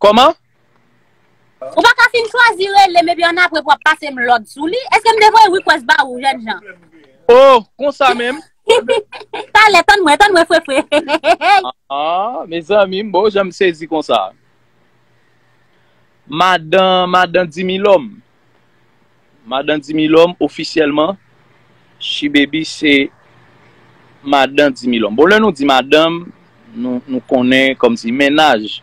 Kòman? Ou pa ka fin chwazi rele m epi annapre pou ap pase m lòd sou li? Eske m te voye request ba ou jènjan? Oh! Konsa menm? Talè, tann mwen, tann mwen fre fre. Aah! Mezanmi, m bon jan m sezi konsa. Madan, madan Dimilòm, Madan Dimilòm ofisyèlman Shibebi se madan Dimilòm. Bon lè nou di madanm nou konnen kòmsi mennaj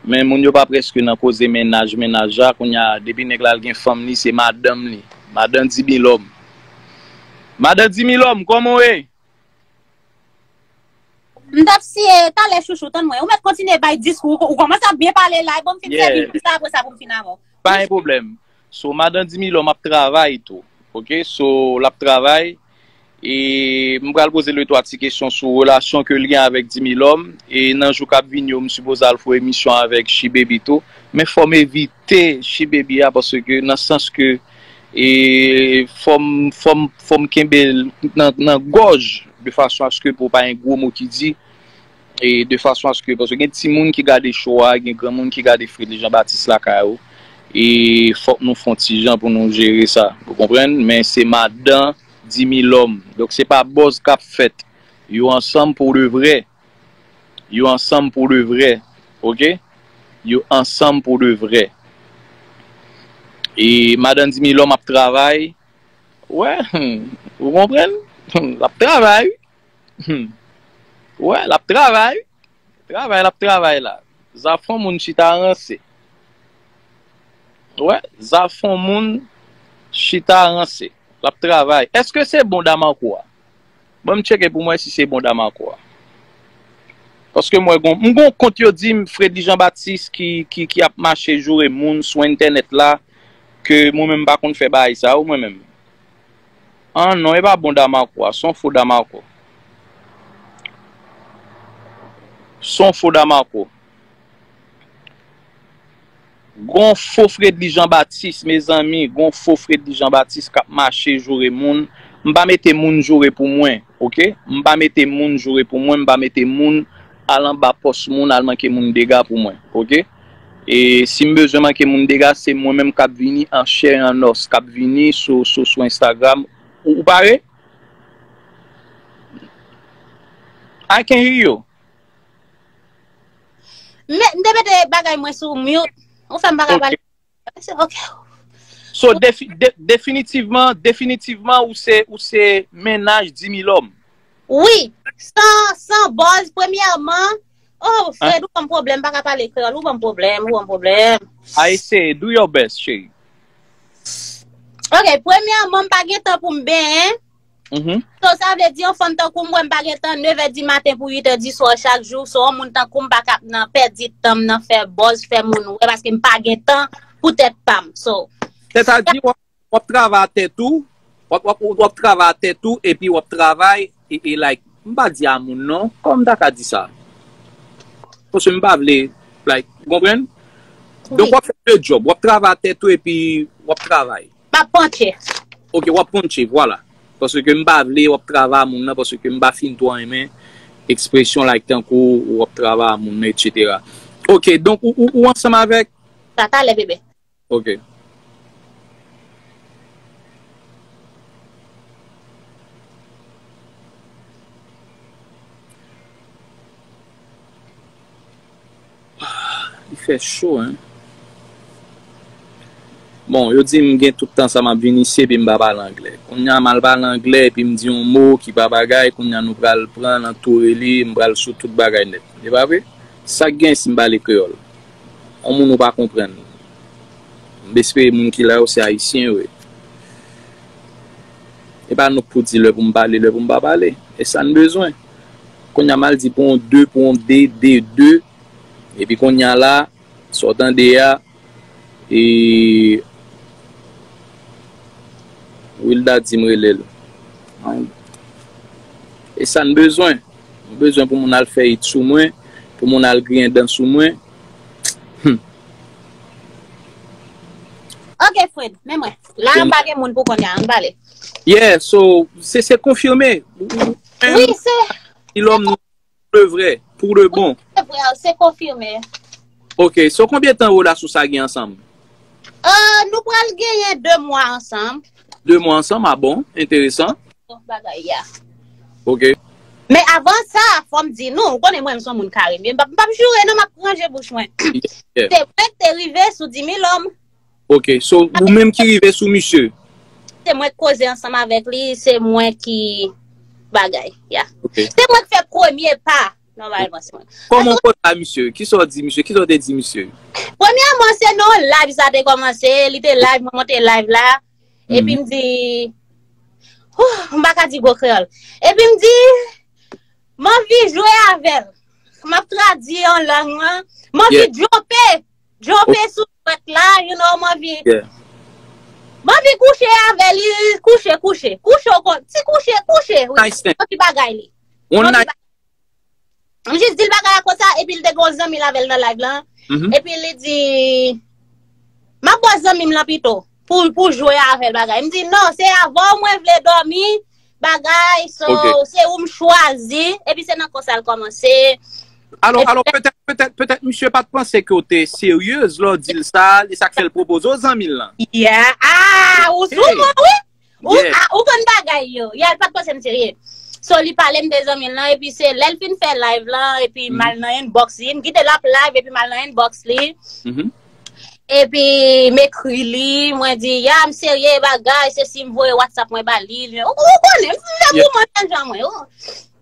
men moun yo pa prèske nan koze mennaj mennaj la kounya depi nèg la al gen fanm li se madanm li madan Dimilòm. Madan Dimilòm kòman w ye? M t ap siye yo talè chouchou, tann mwen. Ou mèt kontinye bay diskou ou, ou kòmanse ap byen pale la, e bon m fin sèvi Yeah. pou sa apre sa pou m fin avè w. Pa gen pwoblèm. So, Madan Dimilòm ap travay tou. Ok, so, l ap travay. E m pral poze l 2 twa ti kesyon sou relasyon ke l gen avèk Dimilòm. E nan jou k ap vini yo, m sipoze al fè w emisyon avèk Shibeby tou. Men fò m evi. te chi baby a parce que nan sans que e fom fom fom kenbel nan nan gòj de fason a ce que pou pa gen gwo mo ki di e de fason a ce que parce que gen timoun ki gade show a gen granmoun ki gade Fredly Jean Baptiste lakay ou e fok nou fon ti jan pou nou jere sa ou konprann men se madan Dimilòm donk se pa buzz kap fèt yo ansanm pour de vrai. Yo ansanm pou de vrè ok. Yo ansanm pou de vrè. E madan Dimilòm ap travay wè humm ou konprann humm lap travay wi humm ou wè lap travay wi travay lap travay la zafon moun chita ranse ou wè zafon moun chita ranse lap travay eske se bon Damarco a. Banm tcheke poum wè si se bon Damarco a. Paske m wè gon m gon kont yo dim Fredly Jean Baptiste ki ki ki ap mache joure moun sou entènèt la ke mwen menm m pa konn fè bagay sa yo mwen menm. An non e pa bon Damarco a son fo Damarco. Son fo Damarco. Gon fo fredly jean baptiste mezanmi gon fo fredly jean baptiste kap mache joure moun m pa mete moun joure pou mwen ok m pa mete moun joure pou mwen m pa mete moun al anba pos moun al manke moun dega pou mwen ok e sim bezwen manke moun dega se mwen menm kap vini an chè e an os kap vini sou sou sou instagram ou pare I can hear you. M te mete bagay mwen sou mute. Ou fèm pa ka pale. Ok. So definitivman, definitivman ou se, ou se mennaj dimilòm. Wi. San boz, premyèman, oh Fred ou banm pwoblèm, m pa ka pale kreyòl, ou banm pwoblèm, ou banm pwoblèm. A eseye, do your best cheri. Ok, premyèman m pa gen tan pou m benyen. Mm-hmm. So sa vle di yon fanm tankou mwen m pa gen tan 9 è di maten pou 8 è di swa chak jou, so yon moun tankou m pa kap nan pèdi tanm nan fè bòz, fè moun wè paske m pa gen tan pou tèt pam. So. Se ta di wap travay a tèt ou, wap travay a tèt ou epi wap travay e e like m pa di a moun non, kòman m ta ka di sa? Paske m pa vle like, ou konprann? Donk wap fè 2 djòb, wap travay a tèt ou epi wap travay. Map panche. Ok wap panche vwala. Paske m pa vle wap travay a moun nan paske m pa fin twò renmen ekspresyon like tankou ou wap travay a moun nan etc. Ok donk ou ansanm avèk. Sa talè bebe. Ok. Ahh li fè cho hein. Bon yo dim gen tout tan sa map vin isi epi mpa pale anglè kounya mal pale anglè epi mdi yon mo ki pa bagay kounya nou pral pran nan toure li mpral sou tout bagay nèt e pa vre sak gen sim pale kreyòl yon moun ou pa konprann m espere moun ki la yo se ayisyen yo ye epa nouk pou di lè poum pale lè poum pa pale esann bezwen. Konnya mal di pou on de pou on de de de epi konnya la sa w tande a e Wilda di m rele l an e sa n bezwen m bezwen pou moun al fè it sou mwen pou moun al griyen dan sou mwen humm. Ok Fred men mwen la m pa gen moun pou konnya an n pale. Yeah so se se konfime. Oui se. Ti lòm nou de vre, pou de bon. Se vre, se konfime. Ok, so konbyen tan Roda sou sa gen ansanm? Euh, nou pral genyen 2 mwa ansanm. 2 mwa ansanm, a bon, enteresan. Bon bagay ya. Ok. Men avan sa, fòm di nou, ou konnen mwen m son moun kare, m pap joure non, m ap ranje bouch mwen. Se vre, te rive sou Dimilòm. Ok, so ou menm ki rive sou misye? Se mwen k koze ansanm avèk li, se mwen ki bagay, ya. Se mwen k fè premye pa, nòmalman se mwen. Kòman w konn pa misye? Ki sa w di misye? Ki sa w te di misye? Premyèman, se nan yon live sa te kòmanse, li te live, mwen monte live la, epi m di, oh, m pa ka di gwo kreyòl, epi m di, m anvi jwe avè l, m ap tradui an lang lan, m anvi djope, djope sou. Pat la you know manvi. Yeah. Manvi kouche avèl ui kouche kouche kouche ou kon ti kouche kouche ui Nice thing. manvi bagay li One manvi night. bagay m jis dil bagay la konsa epi li te gon zanmi l avèl nan live lan Mhm. epi li di map bo zanmi m lan pito pou pou jwe avèl bagay m di non se avèw mwen vle dòmi bagay so se ou m chwazi epi se nan konsa l kòmanse alò alò petèt petèt petèt misye pat panse ke ou te seryez lò w di l sa e sa k fè l pwopoze w zanmi l lan ya aah ou sou mwen wi ou konn bagay yo ya l pat panse m serye so li pale m de zanmi l lan epi se lè l fin fè live lan epi m al nan inbox li m gade l ap live epi m al nan inbox li Epi m ekri li, mwen di, ya m serye bagay, se si m voye WhatsApp mwen ba li, li, ou konnen, m fè pou mwen menm jan mwen, ou.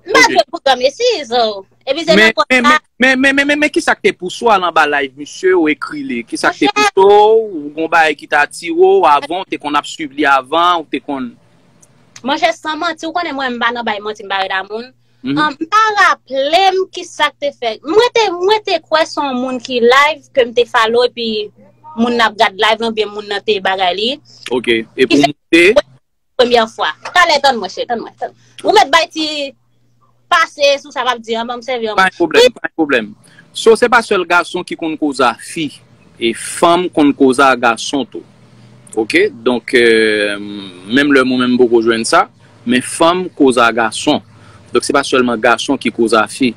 M pa jwe pou granm esi, so. Epi se nan kont sa. Men, men, men, men, men, kisa k te pouse w al anba live misye, ou ekri li? Kisa k te pouse w, ou gon bagay ki te atire w avan, ou te konn ap swiv li avan, ou te konn. Monchè, san manti, ou konnen mwen m pa nan bay manti, m pa reda moun. An pa raplem kisak te fèt. Mwen te mwen te kwè son moun ki live ke m te follow epi moun nan ap gad live lan byen moun nan te bagay li. Ok, e pou moun te? Premyè fwa. Talè tann mwen cheri, tann mwen. Ou mèt bay ti pase sou sa map di an banm sèvi an mwen. Pa gen pwoblèm, pa gen pwoblèm. So se pa sèl gason ki konn koze a fi. E fanm konn koze a gason tou. Ok, donk menm lè mwen menm m poko jwenn sa. Men fanm koz a gason. Donk se pa sèlman gason ki koz a fi.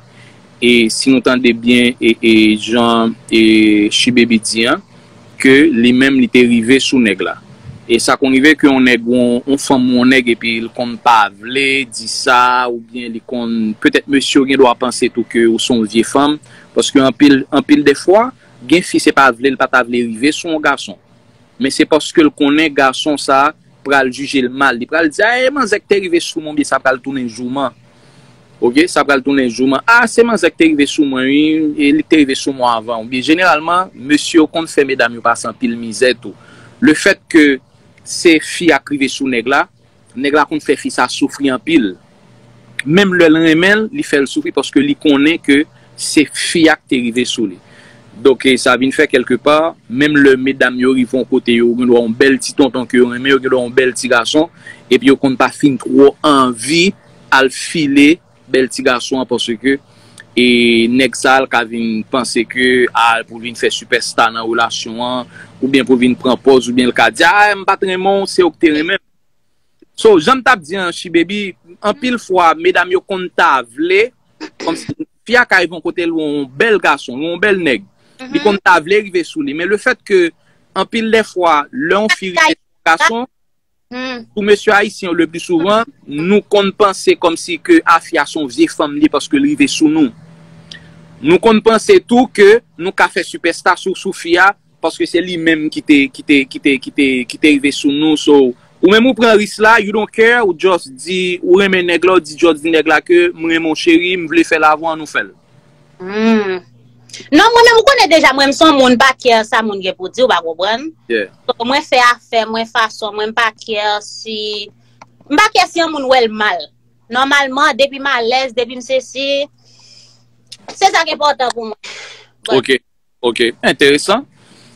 E si nou tande byen e jan Shibaby di an, ke li menm li te rive sou nèg la. E sa konn rive ke yon nèg ou yon fanm ou yon nèg epi l konn pa vle di sa oubyen li konn petèt mesye yo gen dwa panse tou ke ou se yon vye fanm paske anpil anpil dè fwa gen fi se pa vle l pa ta vle rive sou yon gason. Men se paske l konnen gason sa a pral jije l mal. Li pral di, Aee manzè k te rive sou mwen oubyen sa pral tounen jouman. Ok, sa pral tounen jouman. A, se manzè k te rive sou mwen wi, e li k te rive sou mwen avan oubyen. Jeneralman, mesye yo konn fè medam yo pase anpil mizè tou. Lefètke se fi a k rive sou nèg la. Nèg la konn fè fi sa soufri anpil. Menm lè l renmen l, li fè l soufri paske li konnen ke se fi a k te rive sou li. Donk sa vin fè kèlke pa, menm lè medam yo rive yon kote yo gen dwa yon bèl ti tonton ke yo renmen, yo gen dwa yon bèl ti gason, epi yo konn pa fin twò anvi al file Bel ti gason an paske e neg sa al ka vin panse ke al pou vin fè super star nan relasyon an ou byen pou vin pran pòz ou byen l ka di a m pat renmen w se ou k te renmen so janm tap di an chibebi anpil fwa medam yo konn ta vle komsi fi a ka rive yon kote l wè yon bel gason l wè yon bel neg li konn ta vle rive sou li men le fèt ke anpil de fwa lè yon fi rive sou yon gason. Pou mesye ayisyen yo lepli souvan, nou konn panse kòm si ke Afia se yon vye fanm li paske li rive sou nou. Nou konn panse tou ke nou ka fè sipèsta sou sou fi a paske se li menm ki te ki te ki te ki te ki te rive sou nou so ou menm ou pran ris la you don't care ou just di ou renmen nèg la ou di just di nèg la ke m renmen w cheri m vle fè l avè w an nou fè l. Humm Non mwen menm ou konnen deja mwen m son moun pa care sa moun gen pou di ou pa konprann So mwen fè afè mwen fason mwen m pa care si M pa care si yon moun wèl mal Nòmalman depi m alèz depi m sesi Se sa k enpòtan pou mwen But. Ok, enteresan.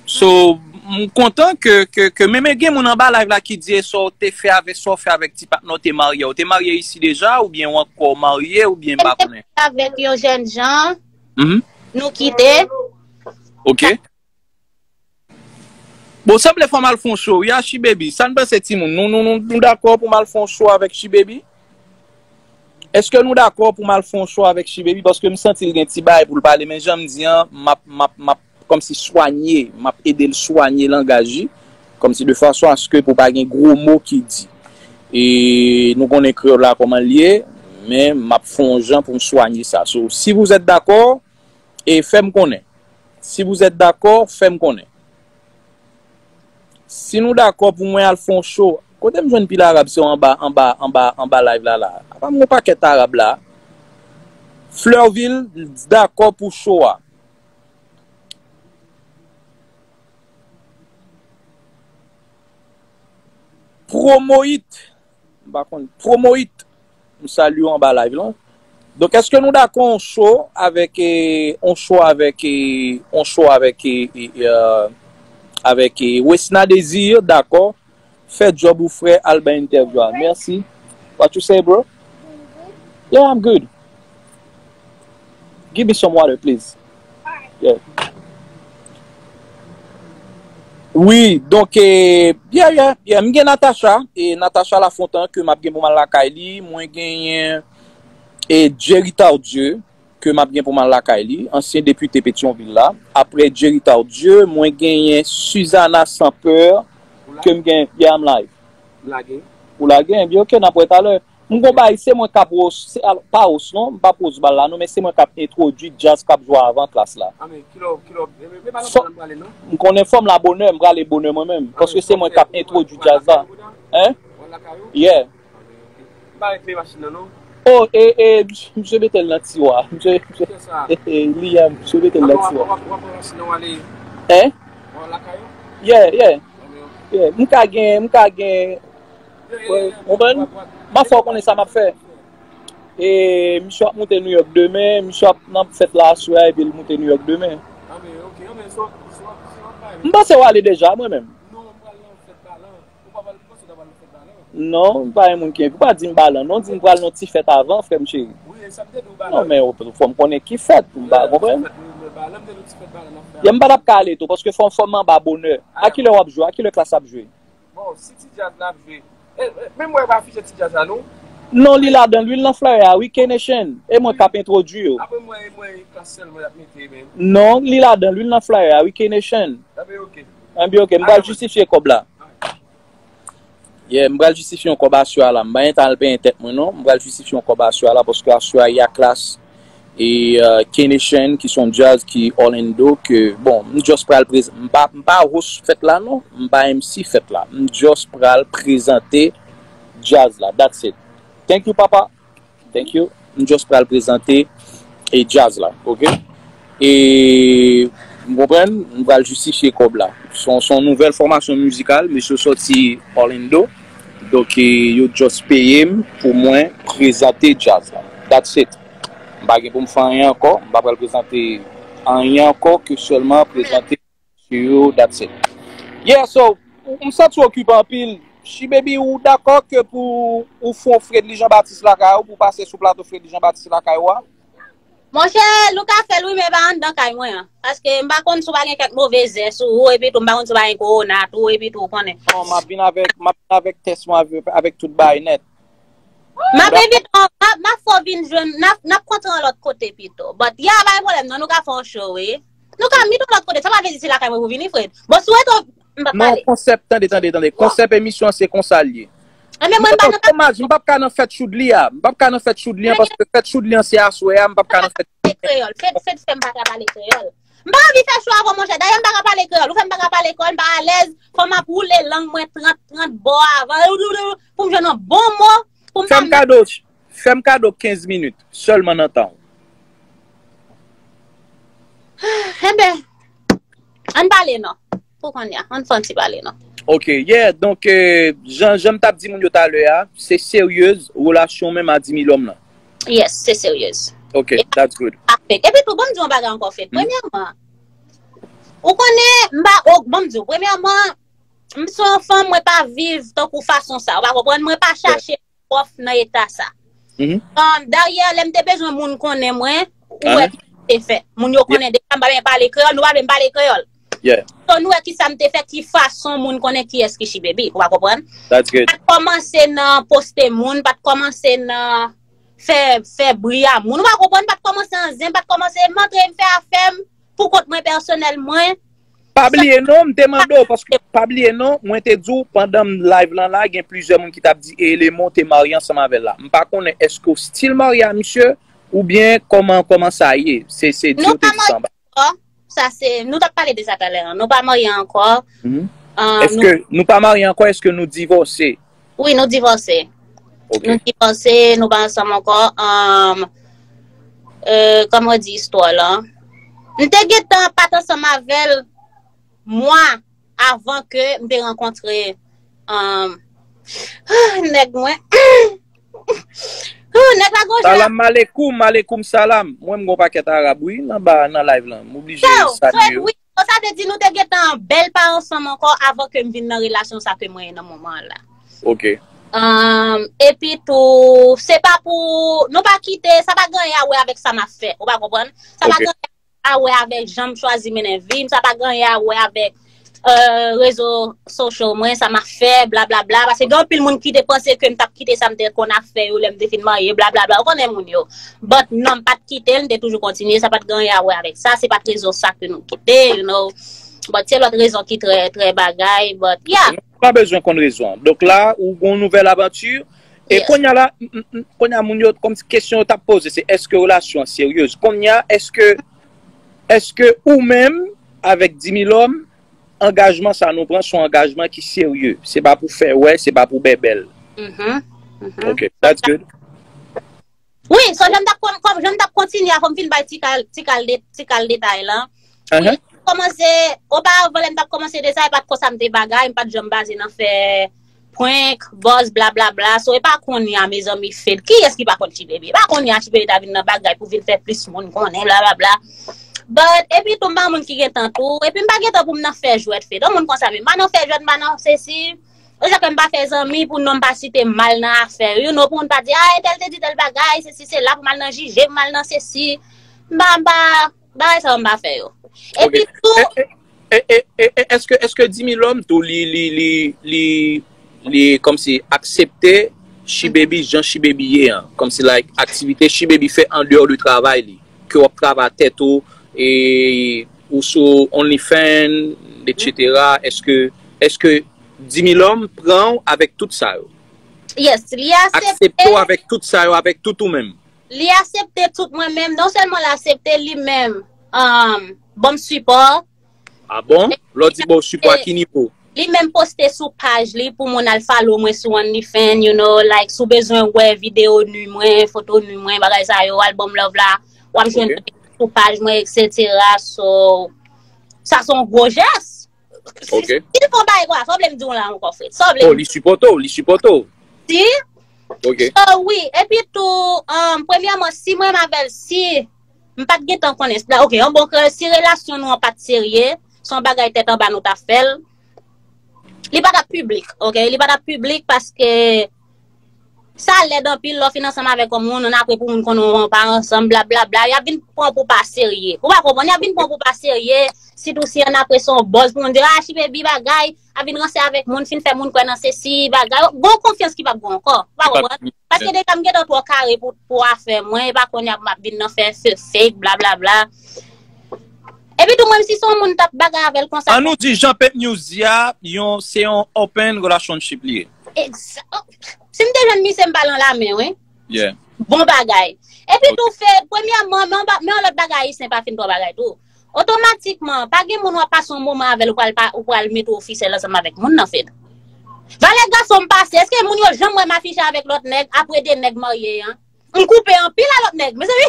So, m kontan ke, ke, ke men men gen moun anba live la ki di e sa w te fè avè, sa w fè avèk ti patnè w te marye. Ou te marye isi deja oubyen ou ankò marye oubyen m pa konnen. Mwen te marye avèk yon jèn jan, nou kite. Ok. Bon, sanble fò m al fè yon show wi a Shibaby. Sa n panse timoun? Nou, nou, nou, nou dakò pou m al fè yon show avèk Shibaby? Eske nou dakò pou mal fon yon show avèk Shibaby paske m santi l gen ti bagay pou l pale men jan m di an m ap kòmsi swanye m ap ede l swanye langaj li kòmsi de fason aske pou pa gen gwo mo ki di e nou konnen kreyòl la kòman l ye men m ap fon yon jan pou m swanye sa so si vouzèt dakò e fè m konnen si vouzèt dakò fè m konnen. Si nou dakò pou mwen al fè yon show Kote m jwenn pil Arab se anba anba anba anba live la la a Apa m gen yon pakèt Arab la a Fleurvil t dakò pou show a. Promohit. M pa konn. Promohit, m salye w anba live lan. Donk eske nou dakò on cho avèk on cho avèk on cho avèk avèk Wesna Désir dakò fè djòb ou frè al bay entèvyou a. Mèsi. What you say bro? Yeah I'm good. Give me some water please. Wi donk yeah yeah yeah m gen Natacha e Natacha Lafontant ke map gen pou m al lakay li mwen genyen e Jerry Tardieu ke map gen pou m al lakay li ansyen depite Petion Ville la aprè Jerry Tardieu mwen genyen Suzana Sampeur ke m gen yeah I'm live ou lage ebyen ok nap wè talè. M gon bagay se mwen kap ros pa ros non m pa pros bal la non men se mwen kap entwodwi djaz kap jwa avan klas la m konnen fòm la bonè m prale bonè mwen menm paske se mwen kap entwodwi djaz la hein yeah oh e e misye metel nan tiwa misye li a misye metel nan tiwa hein yeah yeah yeah m ka gen m ka gen Konprann? Map fè w konnen sa map fè. E misye ap moute New York demen, misye ap nan fèt la aswè a epi li moute New York demen. M panse w ale deja mwen menm. Non, m pa yon moun ki envi. Ou pa di m Balan non, di m pral nan ti fèt avan frè m cheri. Non men ou fò m konnen ki fèt pou m pa konprann. Yè m pa tap ka ale tou paske fò m anba bonè. A kilè wap jwe? A kilè klas ap jwe? Bon si ti djaz la ap jwe. Men mwen pa affiche ti djaz la non. Non li ladanl ui l nan flyer a ui K-nation e mwen kap entwodwi yo. Apre mwen e mwen e klass selman yap mete men. Non li ladanl ui l nan flyer a ui K-nation. Enben ok. Enben ok m pral jistifye kob la. Yeah m pral jistifye yon kob asua la m pa gentan al benyen tèt mwen non m pral jistifye yon kob asua la paske asua ya klass e K-nation ki son jazz ki Orlando ke bon m just pral prezante m pa m pa host fèt la non m pa MC fèt la m just pral prezante jazz la that's it thank you papa thank you m just pral prezante jazz la ok. E m konprann, m pral jistifye kòb la. S on nouvèl fòmasyon mizikal, mesye yo sòti Orlando, donk yo just peye m pou mwen prezante djaz la. That's it. M pa gen pou m fè anyen ankò, m pa pral prezante anyen ankò ke sèlman prezante. sou yo that's it. Yeah so m santi w okipe anpil Shibaby ou dakò ke pou ou fon Fredly Jean Baptiste lakay ou pou w pase sou plato Fredly Jean Baptiste lakay ou a? Monchè nou ka fèl wi men pa anndan kay mwen an paske m pa konn si w pa gen kèk move zè sou ou epi tou m pa konn si w pa gen kowona tou epi tou ou konnen. Non map vin avèk map vin avèk tès mwen avèk tout bagay nèt. Map envite w map fè w vin jwenn nap kontre yon lòt kote pito but yeah pa gen pwoblèm nan nou ka fè yon show wi. Nou ka vin yon lòt kote, sa pa vle di se lakay mwen pou vini Fred. Bon si w rete ou m pap pale. Non, konsèp, tande, tande, tande, konsèp emisyon an se konsa l ye. Ebyen mwen m pa nan kay. Dommaj, m pap ka nan fèt Choudly a. M pap ka nan fèt Choudly an paske fèt Choudly an se aswè a, m pap ka nan fèt. Pale kreyòl. Fred, Fred fè m pa ka pale kreyòl. M pa anvi fè cho avè w monchè. Dayè m pa ka pale kreyòl. Ou fè m pa ka pale kreyòl, m pa alèz. Fò m ap woule lang mwen 30, 30 bò avan. Pou m jwenn yon bon mo pou m pa. Fè m kado, Fè m kado 15 minit sèlman nan tan w. Enben, ann pale non. Pou konnya, ann fè yon ti pale non. Ok, yeah, donk, jan m t ap di moun yo talè a, se seryez relasyon w menm a Dimi Lòm lan? Yes, se seryez. Ok, that's good. Epi tou, ban m di w yon bagay ankò, Fed. Premyèman, ou konnen, m pa, o, ban m di w, premyèman, m se yon fanm, mwen pa viv tankou fason sa, ou pa konprann? Mwen pa chache prof nan eta sa. An, daryè lè m te bezwen moun konnen mwen, ou wè ki sa m te fè. Moun yo konnen deja m pa byen pale kreyòl, nou pa vle m pale kreyòl. So nou wè ki sa m te fè, ki fason moun konnen ki yès ki Shibaby, ou a konprann? Sa t kòmanse nan poste moun, pa t kòmanse nan fè bri a moun, ou a konprann? Pa t kòmanse an zen, pa t kòmanse m antre m fè afè m. Pou kont mwen pèsonèl mwen. Pa bliye non, m te mande w, paske pa bliye non, mwen te di w pandan m live lan la, gen plizyè moun ki t ap di e Elemon te marye ansanm avè l la. M pa konnen èske w stil marye a misye oubyen kòman kòman sa ye. Se se di w te di sa anba. Nou pa marye ankò. Sa se, nou t ap pale de sa talè an. Nou pa marye ankò. Èske nou pa marye ankò, èske nou divòse? Wi nou divòse Nou divòse nou pa ansanm ankò Kòman ou di istwa la M te gentan pat ansanm avèl Mwa avan ke m te rankontre Nèg mwen Nèg la gonjan Salam malekoum malekoum salam Mwen m gon pakèt arab wi nan live lan M oblije salye yo So sa vle di nou te gentan bèl pa ansanm ankò avan ke m vin nan relasyon sa ke mwen ye nan moman an la. Ok. Epi tou, se pa pou, nou pa kite, sa pa gen anyen a wè avèk sa m ap fè, ou pa konprann? Ok. Sa pa gen anyen a wè avèk jan m chwazi mennen vi m, sa pa gen anyen a wè avèk rezo sosyal mwen, sa m ap fè, blablabla, paske gen anpil moun ki te panse ke m t ap kite sa m te konn ap fè yo lè m te fin marye, blablabla, ou konnen moun yo. But non m pat kite l, m te toujou kontinye, sa pat gen anyen a wè avèk sa, se pat rezon sa ke nou kite, you know. But se lòt rezon ki trè, trè bagay, but yeah. Nou pa bezwen konn rezon an. Donk la, ou gen yon nouvèl avanti, e konnya la, konnya moun yo, kòmsi kesyon yo tap poze se èske relasyon an seryez? Konnya èske, èske ou menm avèk Dimilòm, angajman sa nou pran son angajman ki serye? Se pa pou fè wè, se pa pou bèbèl. Mh, mh. Ok, that's good. Wi, so jan m tap kon, kon jan m tap kontinye a fò m fin bay ti kal, ti kal de, ti kal detay lan. Wi, m kòmanse, oparavan lè m tap kòmanse desen e pat konsa m te bagay, m pat janm baze nan fè prank, buzz, blablabla, so e pa konnya mezanmi Fed, kiyès ki pa konn Ti Baby? E pa konnya Ti Baby ta vin nan bagay pou vin fè plis moun konnen blablabla. But, epi tou m pa moun ki gen tan tou, epi m pa gen tan pou m nan fè jwèt Fed, on moun konsa menm, m pa nan fè jwèt, m pa nan sesi. Ou se kwè m pa fè zanmi pou non m pa site m mal nan afè yo no pou moun pa di a entèl te di tèl bagay sesi sela pou m al nan jije m al nan sesi m pa m pa bagay sa yo m pa fè yo epi tou E e e e eske eske Dimilòm tou li li li li li kòmsi aksepte Shibebi jan Shibebi ye an kòmsi like aktivite Shibebi fè andeyò de travay li ke w ap travay tèt ou e Ou sou only fan etc eske eske Dimilom pranw avèk tout sa yo? Yes li asepte. Aksepte w avèk tout sa yo avèk tout ou menm? Li asepte tout mwen menm non sèlman l asepte li menm um banm sipò. Ah bon? Lè w di baw sipò a ki nivo? Li menm poste sou paj li pou moun al follow mwen sou only fan you know like si w bezwen wè video nu mwen, foto nu mwen bagay sa yo al banm love la. Wap jwenn Ok. bagay sou paj mwen etc. So, sa son gwo jès. Si, Ok. si l fon bagay kwa, sa w vle m di w la ankò Fred? Sa w vle m Oh, li sipòte w, li sipòte w. di? Ok. So wi, epi tou, um, premyèman, si mwen menm avèl, si m pat gen tan konnen, la, ok, an bon kè, si relasyon nou an pat serye, son bagay tèt anba nou ta fèl, li pa tap publik, ok, li pa tap publik paske Sa lèd anpil lè w fin ansanm avèk yon moun, 1 apre pou moun konnen w an pa ansanm blablabla, y ap vin pran w pou w pa serye. Ou pa konprann, y ap vin pran w pou w pa serye, sitou si 1 apre se yon bòz pou moun di a chibebi bagay, ap vin ranse avèk moun, fin fè moun kwè nan sesi, bagay, gon w konfyans ki p ap gen w ankò. Ou pa konprann? Paske deja m gentan twò kare pou afè mwen, e pa kounye a pou m ap vin nan fè fè fake blablabla. Epi tou menm si se yon moun m t ap bagay avè l konsa. An nou di jan Peep News di a, yon se yon open relationship li ye. Si m te jwenn misye m pral nan lame wi. Yeah. Bon bagay. Epi tou fè, premyèman, men yon lòt bagay ayisyen pa fin pran bagay tou. Otomatikman, pa gen moun wap pase yon moman avèl ou pral mete w ofisèl ansanm avèk moun nan Fed. Valè gason m pase, eske moun yo janm wè m afiche avèk lòt nèg apre 2 nèg marye an? M koupe anpil a lòt nèg. Mezanmi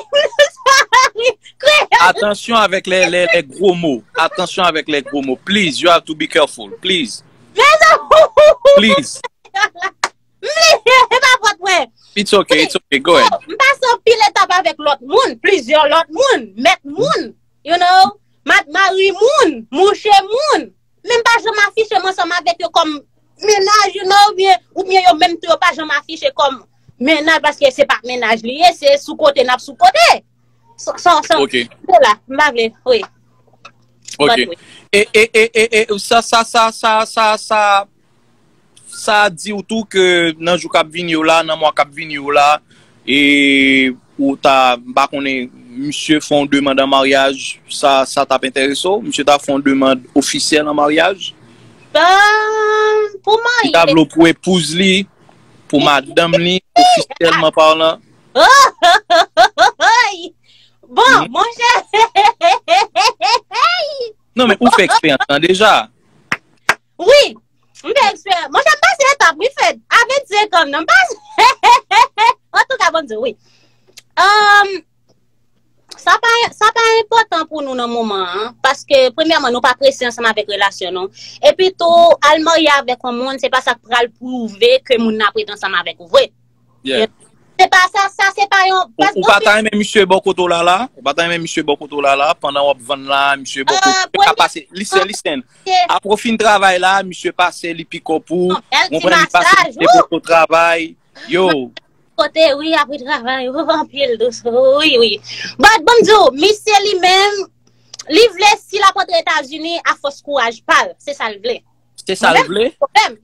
sa ri kreyòl. Atansyon avèk lè gwo mo. Atansyon avèk lè gwo mo. Please you have to be careful. Please. Mezanmi. Please. M li e pa fòt mwen. It's ok, it's ok, go ahead. M pase anpil etap avèk lòt moun, plizyè lòt moun, mèt moun, you know, mari moun, mouche moun. Menm pa janm afiche m ansanm avèk yo kòm mennaj you know, ou byen yo menm tou yo pa janm afiche kòm mennaj paske se pa mennaj li ye, se sou kote nap sou kote. San, san, san, Ok, se la, m pa vle, wi. but ok. wi. E, e, e, e, e, sa, sa, sa, sa, sa, sa. Sa di ou tou ke nan jou kap vini yo la, nan mwa kap vini yo la, e ou ta, m pa konnen, misye fè yon demand an maryaj, sa, sa tap enterese w? Misye ta fè yon demand ofisyèl an maryaj? Eemm, pou w marye. Li ta vle w pou epouz li, pou madanm li, ofisyèlman parlan? Oohohohohohoy! Bon, monchè, heheheheheheheyyy! Non men, ou fè eksperyans lan deja. Wi M te eksperyans Monchè m pase etap wi Fed A 25 ans m nan m pase Antouka Bondye wi Humm Sa pa Sa pa enpòtan pou nou nan moman an Paske premyèman nou pa prese ansanm avèk relasyon nou Epitou al marye avèk yon moun se pa sa k pral pwouve ke moun nan ap ret ansanm avèk ou vre Yeah. Se pa sa, sa se pa yon... Ou pa ta renmen misye bò kote w la la? Ou pa ta renmen misye bò kote w la la? Pandan w ap vann la, misye bò kote w la pase... Listen, listen. Apre w fin travay la, misye pase, li piko pou w. Ou konprann, li pase, misye bò kote w travay. Yo! Kote wi apre travay. Ou anpil dous. Wi, wi. But, banm di w, misye li menm, li vle si l ap antre Etazini a fòs kouraj pa l. Se sa l vle. Se sa l vle?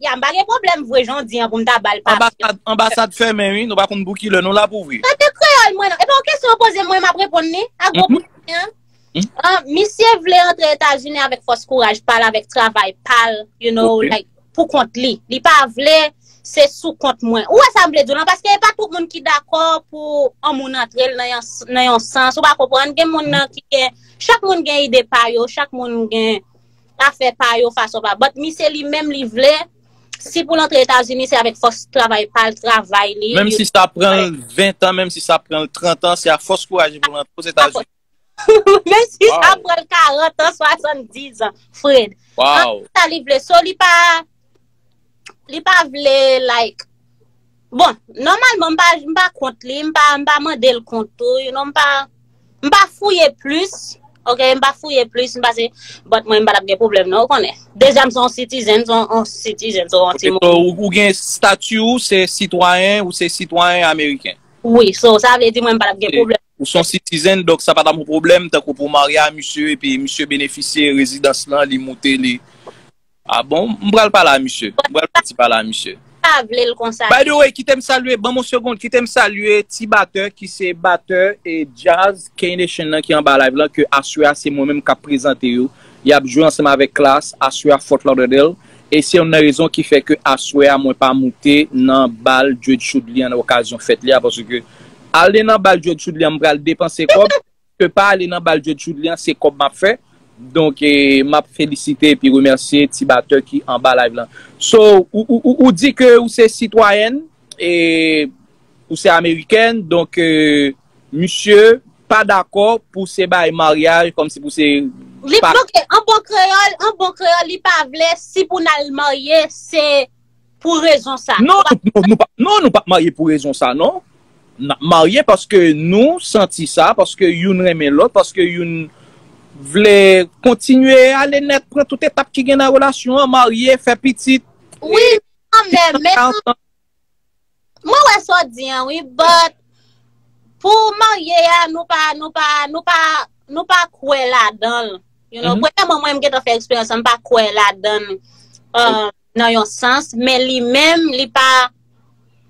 Ya m pa gen pwoblèm vwe jan w di an pou m ta ba l papye. Anbasad fèmen wi, nou pa konn pou ki lè nou la pou vwe. Tande kreyòl mwen nan. Epi yon kesyon yo poze mwen m ap reponn li ak gwo bout mwen an. Misye vle antre Etazini avèk fòs kouraj pa l, avèk travay pa l, you know, like pou kont li. Li pa vle se sou kont mwen. Ou wè sa m vle di w lan? Paske e pa tout moun ki dakò pou yon moun antre l nan yon sans, ou pa konprann? Gen moun nan ki gen, chak moun gen ide pa yo, chak moun gen. pa fè pa yo fason pa but misye li menm li vle si poul antre etazini se avèk fòs travay pal travay li menm si sa pranl 20 tan menm si sa pranl 30 tan se a fòs kouraj li poul antre ozetazini menm si sa pranl 40 tan 70 an fred antre sa li vle so li pa Li pa vle like. Bon, nòmalman m pa m pa kont li, m pa m pa mande l kont tou, you know, m pa m pa fouye plis, ok, m pa fouye plis, m pa se bòt mwen m pa t ap gen pwoblèm non, ou konnen. Deja m se yon sitizen, m se yon sitizen, so yon timoun. Ok, so ou gen stati ou se sitwayen, ou se sitwayen ameriken? Wi, so sa vle di mwen m pa t ap gen pwoblèm. Ou se yon sitizen, donk sa pa t ap yon pwoblèm tankou pou w marye a misye epi misye benefisye rezidans lan, li moute li. Ah bon, m pral pale a misye. M pral fè ti pale a misye. M pa vle l konsa. By the way, kite m salye, ban m yon segond, kite m salye ti batè ki se batè e djaz K-Nation nan ki anba live lan ke aswè a se mwen menm k ap prezante yo. Y ap jwe ansanm avèk Klass aswè a Fort Lauderdale e se youn nan rezon ki fè ke aswè a mwen pa moute nan bal Djed Choudly an nan okazyon fèt li a paske ale nan bal Djed Choudly an m pral depanse kòb. Ke pa ale nan bal Djed Choudly an se kòb map fè donk map felisite epi remèsye ti batè ki anba live lan so ou di ke ou se sitwayèn e ou se amerikèn donk misye pa dakò pou se bay maryaj kòmsi pou se Li pa. Ok an bon kreyòl an bon kreyòl li pa vle si pou nal marye se. Pou rezon sa. Non nou pap marye pou rezon sa non. Nap marye paske nou santi sa, paske youn renmen lòt, paske youn vle kontinye ale nèt pran tout etap ki gen nan relasyon an, marye, fè pitit. Wi kanmèm men nou. Mwen wè sa w di an wi but pou marye a nou pa nou pa nou pa nou pa kwè ladan l. Premyèman mwen m gentan fè eksperyans sa m pa kwè ladan l. nan yon sans, men li menm li pa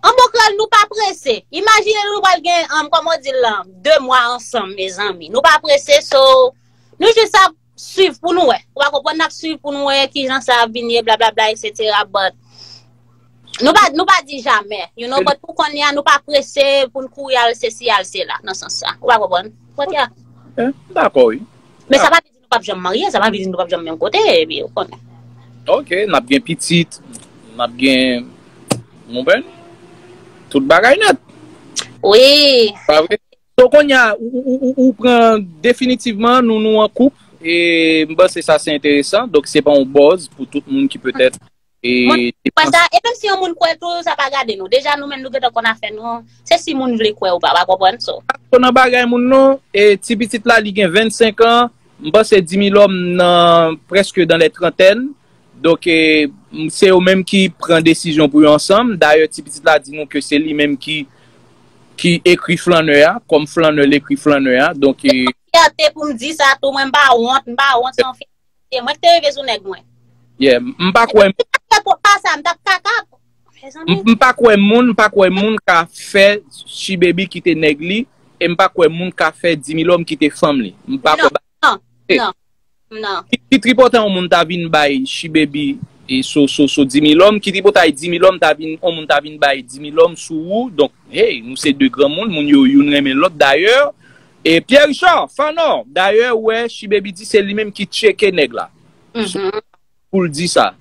an bon kral nou pa prese imajine nou pral gen an kòman w di l lan 2 mwa ansanm mezanmi nou pa prese so nou jis ap swiv pou nou wè ou pa konprann nap swiv pou nou wè kijan sa ap vin ye blablabla eksetera but nou pa nou pa di jamè you know but pou konnya nou pa prese pou n kouri al sesi al sela nan sans sa ou pa konprann m dako wi men sa pa di nou pap janm marye, sa pa vle di nou pap janm menm kote, epi ou konnen. Ok, n ap gen pitit, n ap gen mouben, tout bagay nèt. Wi. Pa vre? So kounye a, ou pran definitivman nou nou an koup, e m panse sa se enteresan, donk se pa yon buzz pou tout moun ki petèt Mwen kwè sa, e menm si yon moun kwè tou, sa pa gade nou. Deja nou menm nou gentan konn afè nou, se si moun vle kwè ou pa, wap konprann so. Mwen pa twò nan bagay moun non, e ti pitit la li gen 25 an, m panse Dimilòm nan prèske dan lè trantèn, donk se yo menm ki pran desizyon pou yo ansanm, dayè ti pitit la di nou ke se li menm ki ki ekri flannè a, kòm flannè l ekri flannè a, donk. Se yon fyète pou m di sa tou, mwen m pa wont, m pa wont se yon fyète. Yeah, mwen te reve sou nèg mwen. Yeah, m pa kwè. Si m tap fè ko pa sa, m tap kaka. Mezanmi. M pa kwè moun, m pa kwè moun ka fè Shibaby kite nèg li, e m pa kwè moun ka fè Dimilòm kite fanm li. M pa kwè bagay sa. Non, non, non, non. Ki tripotan yon moun ta vin bay Shibaby sou Dimilòm, ki tripotay Dimilòm ta vin, yon moun ta vin bay Dimilòm sou ou, donk, hey, nou se 2 granmoun, moun yo youn renmen lòt. Dayè, E Pierre Richard, Fanò, dayè ou wè Shibaby di se li menm ki tcheke nèg la. So, pou l di sa.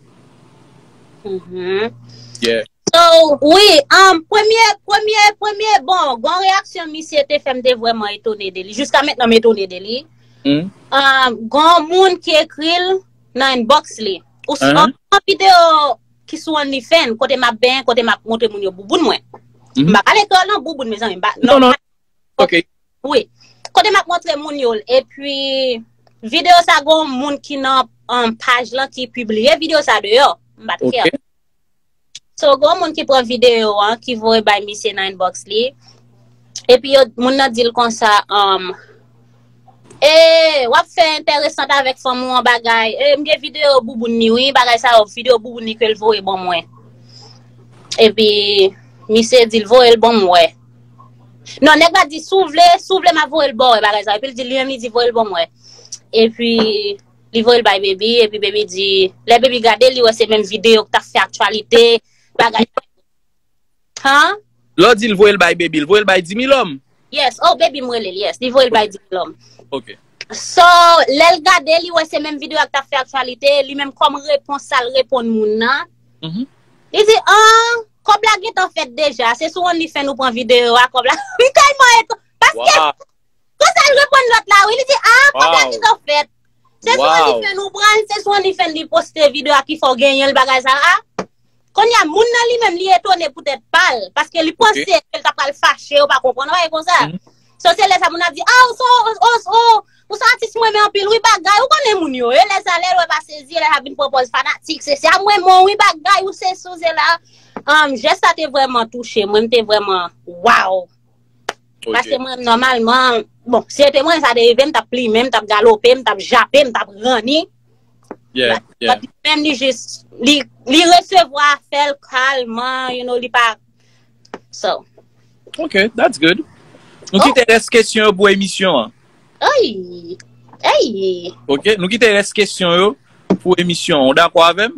Yeah. So, wi, um, premye, premye, premye, bon, gon reyaksyon misye te fè m te vrèman etone de li. Jiska mentnan m etone de li. Humm. Um, gon moun ki ekri l nan inbox li. Ou si, uh-huh. an video ki sou OnlyFans, kote m ap benyen, kote m ap montre moun yo bouboun mwen. Mm-hmm. M pa pale kreyòl nan bouboun, mezanmi. M pa, non, non. Ok. Wi. Kote map montre moun yo l. E pi, video sa gon moun ki nan um, paj lan ki pibliye video sa deyò. M pat kè. Ok. So, gon moun ki pran video an, ki voye bay misye nan inbox li. E pi yo, moun nan di l konsa, um, Ee wap fè entèresant avèk fanm ou an bagay ee m gen video bouboun ni wi bagay sa yo video bouboun ni kel voye bon mwen epi misye dil voyel bon mwen non nèg la di sou vle sou vle ma voyel bon mwen bagay sa epi l di li menm li di voyel bon mwen epi li voyel bay baby epi baby di lè baby gade li wè se menm video ki tap fè aktyalite bagay Huh? Lè w di l voye l bay Baby l voye l bay Dimilòm? Yes, oh Baby m rele l yes, li voye l bay Dimilòm. Ok. So, lè l gade li wè se menm video a k t ap fè aktyalite, li menm kòm repons sa l reponn moun nan, li di, Ahh, kòb la gentan fèt deja, se sou Onlyfans ou pran video a, kòb la, m tèlman eton, paske. Konsa l reponn lòt la wi, li di, ah pwoblèm li to fèt. Se sou onlyfans ou pran l, se sou onlyfans li poste video a ki fè w genyen l bagay sa a. Kounye a moun nan li menm li etone pou tèt pa l, paske li panse ke l ta pral fache yo pa konprann bagay konsa. So se lè sa moun nan ap di, ah ou son o, ou son atis m renmen anpil wi bagay, ou konnen moun yo. E lè sa lè l wè pa sezi, e lè sa l ap vin pran pòz fanatik, se sa m renmen w wi bagay, ou se si ou se la. Jès sa te vrèman touche mwen, m te vrèman, waww. Paske mwen nòmalman, bon, si ete mwen sa te rive, m tap plime, m tap galope, m tap jape, m tap ranni. Yeah, yeah. But menm li jis, li resevwa fèl kalman, you know, li pa, so. Ok, that's good. Nou oh. kite res kesyon yo pou emisyon an. Ayy, ayy. Ok, nou kite res kesyon yo pou emisyon an. Ou dakwa avèm?